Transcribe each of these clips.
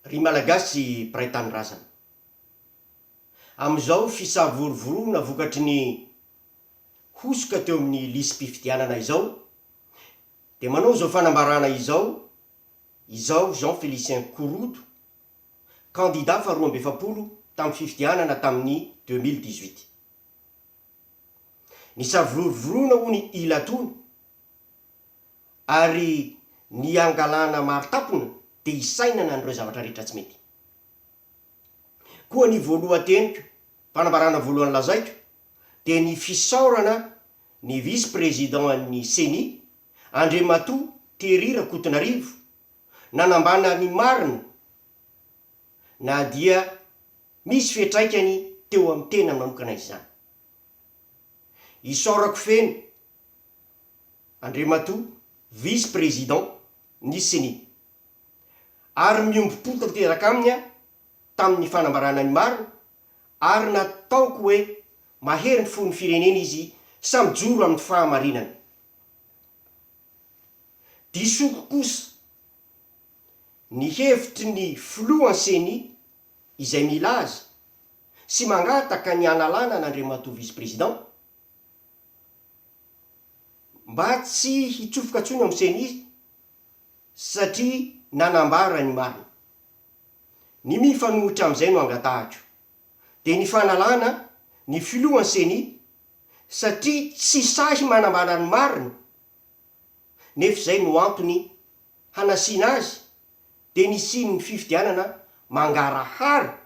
Ry Malagasy mpiray tanindrazana. Amin'izao fisavorovoroana vokatry ny hosoka teo amin'ny lisi-pifidianana izao dia manao izao fanambarana izao izaho Jean Félicien Korodo, kandida faharoa amby efapolo tamin'ny fifidianana tamin'ny deux mille dix-huit. Nisavororona hono i Latona, ary nihangalana maro tampona dia hisainana an'ireo zavatra rehetra tsy mety. Koa ny voalohan-teniko, fanambarana voalohany lazaiko, dia ny fisaorana ny vice président an'ny ceni, Andriamatoa Terry Rakotonarivo, nanambana ny marina, na dia misy fiantraikany teo amin'ny tena manokana izany. Isaorako feno Andriamatoa Vice Président ny ceni, ary miombom-po tanteraka aminy aho tamin'ny fanambarana ny marina ary nataoko hoe mahery ny fon'ny firenena izy sa mijoro amin'ny fahamarinana. Disoko kosa ny hevitry ny filohan'ny Ceni izay milaza sy mangataka ny hanalana an'Andriamatoa Vice Président mba tsy hitsofoka intsony ao amin'ny Ceni satria nanambara ny marina. Ny mifanohitra amin'izay no angatahako dia ny fanalana ny filohan'ny Ceni satria tsy sahy manambara ny marina nefa izay no antony hanasiana azy dia ny hisian'ny fifidianana mangarahara,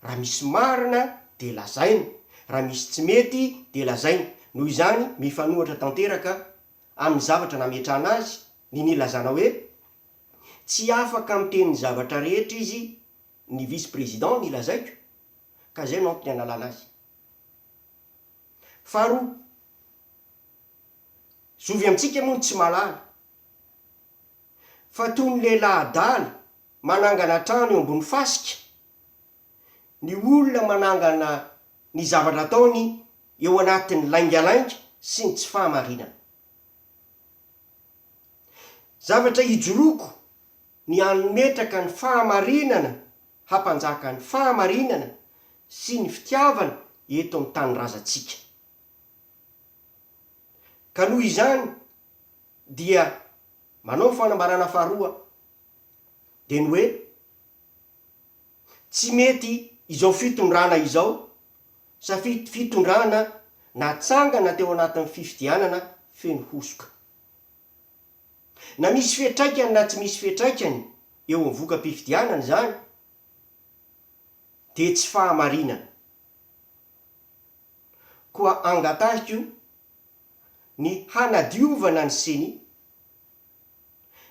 raha misy marina dia lazaina, raha misy tsy mety dia lazaina, noho izany mifanohatra tanteraka amin'ny zavatra nametrahana azy ny nilazana hoe tsy afaka miteny ny zavatra rehetra izy ny vice président ny lazaiko ka izay no antony hanalana azy. Faharoa. Zovy amintsika moa ny tsy mahalala fa toy ny lehilahy adala manangana trano eo ambony fasika ny olona manangana ny zavatra ataony eo anatin'ny laingalainga sy ny tsy fahamarinana. Zavatra ijoroako ny hanometraka ny fahamarinana hampanjaka ny fahamarinana sy ny fitiavana eto amin'ny tanindrazantsika. Ka noho izany dia manao ny fanambarana faharoa dia ny hoe, tsy mety izao fitondrana izao satria fitondrana natsangana teo anatin'ny fifidianana feno hosoka. Na misy fiatraikany na tsy misy fiatraikany eo amin'ny voka-pifidianana izany dia tsy fahamarinana. koa angatahiko ny hanadiovana ny ceni,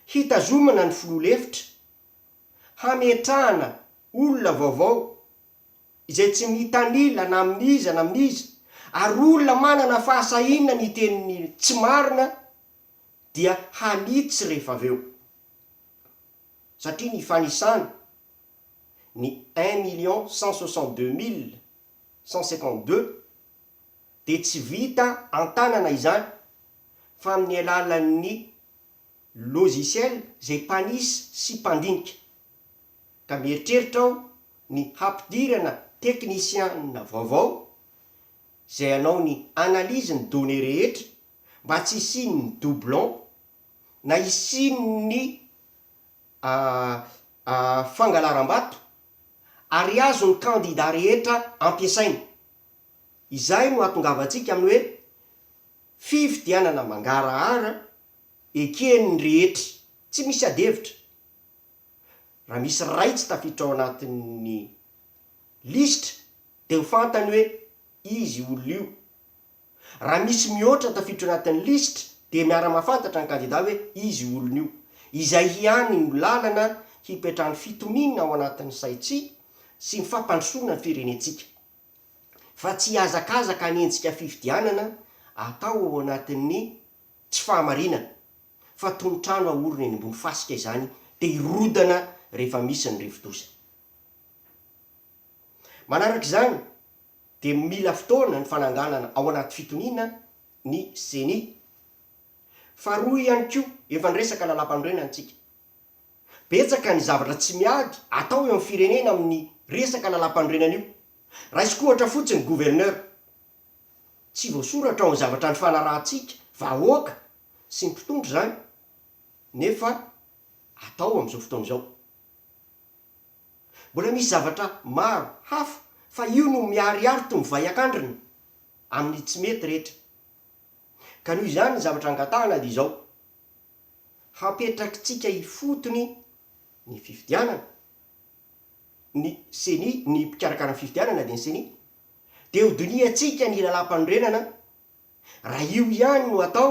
hitazomana ny filoha lefitra, hametrahana olona vaovao izay tsy mitanila na amin'iza na amin'iza ary olona manana fahasahiana ny hiteny ny tsy marina dia hanitsy rehefa avy eo satria ny fanisana ny un million cent soixante deux mille cent cinquante deux dia tsy vita an-tanana izany fa amin'ny alalan'ny logiciel izay mpanisy sy mpandinika. Ka mieritreritra aho ny hampidirana teknisiana vaovao izay hanao ny analyse ny données rehetra mba tsy hisian'ny doublon na hisian'ny a a fangalaram-bato ary azo ny kandida rehetra ampiasaina. Izay no ahatongavantsika amin'ny hoe fifidianana mangarahara eken'ny rehetra tsy misy adihevitra. Raha misy iray tsy tafiditra ao anatin'ny lisitra dia ho fantany hoe izy olona io. Raha misy mihoatra ny tafiditra ao anatin'ny lisitra dia miara-mahafantatra ny kandida hoe iza io olona io. Izay hiany no lalana hipetrahan'ny fitoniana ao anatin'ny saintsika sy ny fampandrosoana ny firenentsika. Fa tsy hihazakazaka hanenjika fifidianana atao ao anatin'ny tsy fahamarinana fa toy ny trano ahorona eny ambony fasika izany dia hirodana rehefa misy ny rivodoza. Manaraka izany, dia mila fotoana ny fananganana ao anaty fitoniana ny ceni. Faharoa ihany koa, efa niresaka lalampanorenana isika. Betsaka ny zavatra tsy miady atao eo amin'ny firenena amin'ny resaka lalampanorenana io. Raisiko ohatra fotsiny ny gouverneur. Tsy voasoratra ao amin'ny zavatra nifanarahantsika vahoaka sy ny mpitondra izany nefa atao amin'izao fotoana izao. Mbola misy zavatra maro hafa fa io no miharihary tony vay akandrina amin'ny tsy mety rehetra. Ka noho izany ny zavatra angatahana dia izao, hapetrakitsika ifotony ny fifidianana, ny ceni, ny mpikarakara ny fifidianana dia ny ceni, dia hodinihantsika ny lalàmpanorenana raha io ihany no atao,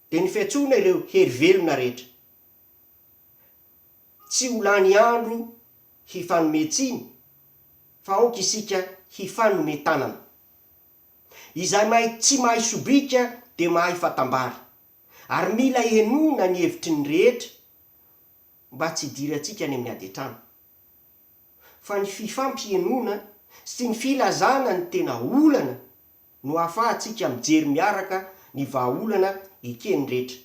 Dia ny fiantsoana ireo hery velona rehetra. Tsy ho lany andro hifanome tsiny fa aoka isika hifanome tanana. Izay mahay tsy mahay sobika dia mahay fatambary ary mila henoina ny hevitry ny rehetra mba tsy hidirantsika any amin'ny ady an-trano. Fa ny fifampihenoana sy ny filazana ny tena olana no ahafahantsika mijery miaraka ny vahaolana eken'ny rehetra.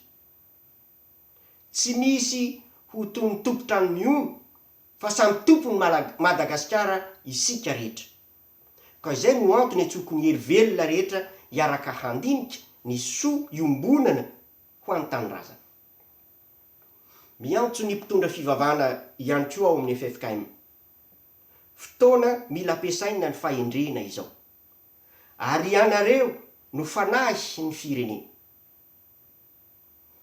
Tsy misy ho toy ny tompon-trano mihono fa samy tompon'i Madagasikara isika rehetra. Ka izay no antony antsoiko ny hery velona rehetra hiaraka handinika ny soa iombonana ho an'ny tanindrazana. Miantso ny mpitondra fivavahana ihany koa ao amin'ny ffkm. Fotoana mila ampiasaina ny fahendrena izao. ary ianareo no fanahy ny firenena.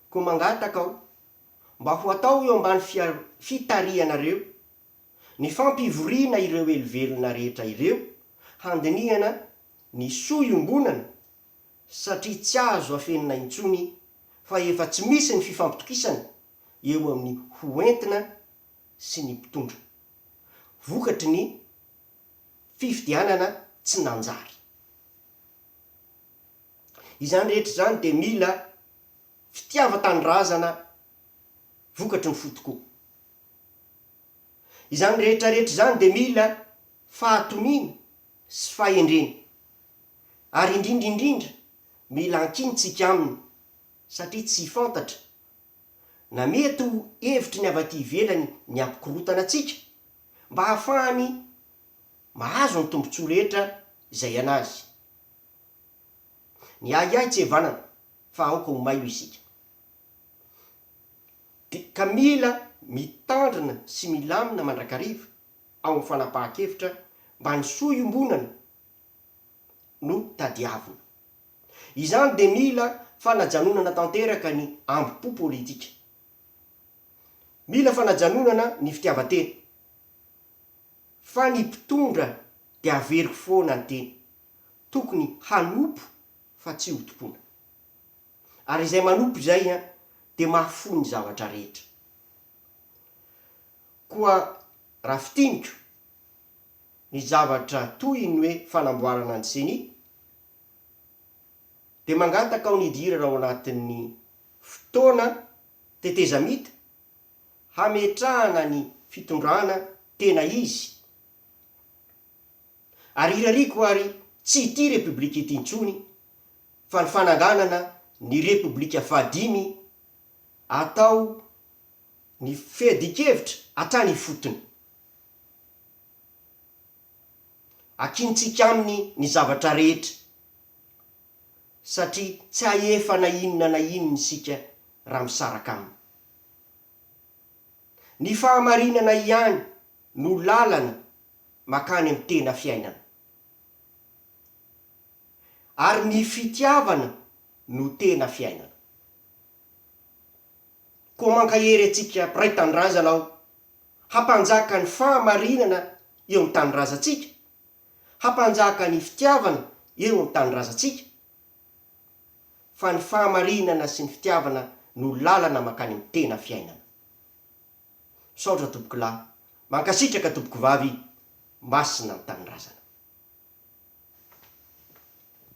Koa mangataka aho mba ho atao eo ambany fitarihanareo ny fampivoriana ireo helivelona rehetra ireo handinihana ny soa iombonana satria tsy azo afenina intsony fa efa tsy misy ny fifampitokisana eo amin'ny ho entina sy ny mpitondra vokatry ny fifidianana tsy nanjary. Izany rehetra izany dia mila fitiavan-tanindrazana vokatry ny fo tokoa. Izany rehetra rehetra izany dia mila fahatoniana sy fahendrena. Ary indrindra indrindra mila ankintsika aminy satria tsy fantatra na mety ho hevitry ny avy aty ivelany ny hampikorotana antsika mba hahafahany mahazo ny tombontsoa rehetra izay anazy. Ny ahiahy tsy evanana fa aoka ho mailo isika. Di, ka mila mitandrina sy milamina mandrakariva ao amin'ny fanapahan-kevitra mba ny soa iombonana no tadiavina. Izany dia mila fanajanonana tanteraka ny ambom-po politika. Mila fanajanonana ny fitiavan-tena. Fa ny mpitondra dia averiko foana ny teny. Tokony hanompo fa tsy ho tompoina. Ary izay manompo izay dia mahafoy ny zavatra rehetra. Koa raha fintiniko ny zavatra toy ny hoe fanamboarana ny ceni, dia mangataka aho ny hidirana ao anatin'ny fotoana tetezamita hametrahana ny fitondrana tena izy ary hirariako ary tsy ity repoblika ity intsony fa ny fananganana ny repoblika fahadimy atao ny feadin-kevitra hatrany ifotony. Akintsika aminy ny zavatra rehetra, satria tsy hahefa na inona na inona isika raha misaraka aminy. Ny fahamarinana ihany no lalana makany amin'ny tena fiainana. Ary ny fitiavana no tena fiainana. Koa mankahery antsika mpiray tanindrazana aho hampanjaka ny fahamarinana eo amin'ny tanindrazantsika, hampanjaka ny fitiavana eo amin'ny tanindrazantsika, fa ny fahamarinana sy ny fitiavana no lalana mankany amin'ny tena fiainana. Misaotra Tompokolahy, mankasitraka Tompokovavy, Masina ny Tanindrazana.